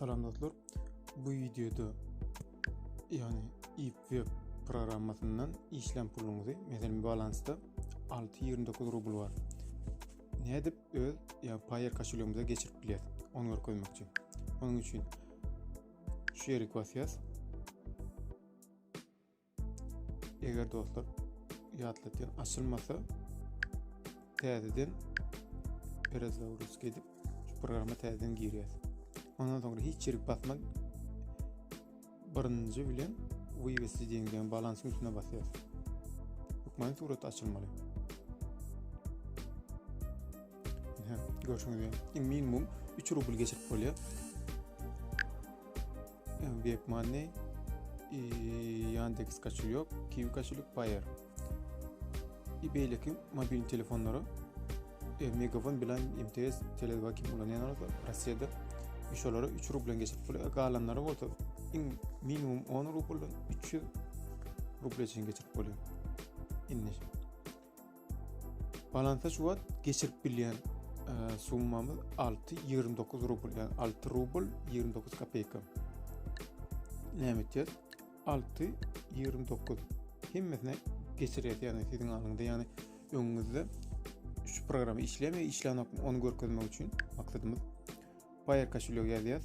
Salam dostlar. Bu wideoda ýagny ip web programmasyndan işlän puluňyzy, meselem balansda 6.29 rubl bar. Nädip öz ýa Payer koşulýogymyza geçirip bilýäs? Onu görkezmekçi. Onuň üçin şu ýeri basýas. Eger dostlar ýatlatýan açylmasa täzeden perezaurus gelip şu programma täzeden girýär. Ondan soňra hiç ýerik basmak birinji bilen wywesi diýen balansyň üstüne basýar. Hukman surat açylmaly. Görüşmek üzere. Minimum 3 rubl geçirip bolýar. Webmoney, Yandex koşulýok, Kiwi koşulýok, Payer. I beýleki mobil telefonlara e, Megafon bilen MTS, Tele2 kim ulanýanlar bolsa Russiýada şolara 3 rublen geçirip bolýar. Galanlary bolsa iň minimum 10 rubl 300 rubl üçin geçirip bolýar. Indi Balansa şu wagt geçirip bilýän summamyz 6.29 rubl, ýagny 6 rubl 29 kopeyka. Näme etýär? 6.29 hemmesine geçirýär, ýagny siziň alyňda, ýagny öňüňizde şu programma işleme, işlänok, onu görkezmek üçin maksadymyz Paýer kaşulýog ýazýas.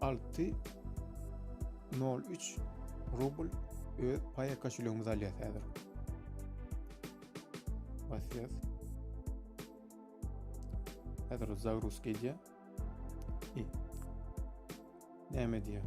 Alty nol üç rubl öz paýa koşulegimiz alýas häzir. Basýas. Häzir o zagruz gelýär. Näme diýýär?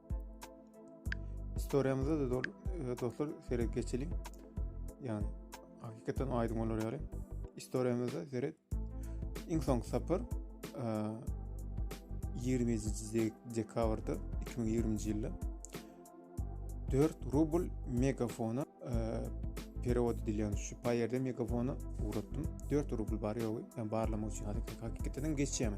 Storýamyzda da e, dostlar seret geçeliň. Ýani hakykatdan aýdyň bolar ýaly. Storýamyzda seret iň soň sapar 20-nji e, dekabrda 2020-nji ýylda 4 rubl megafona e, perewod edilýän şu paýerde megafona ugratdym. 4 rubl bar ýogy, ýa barlamak üçin hakykatdan geçýämi?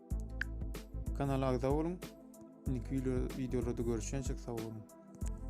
Kanala agza boluň. Indiki videolarda görüşýänçek sag boluň.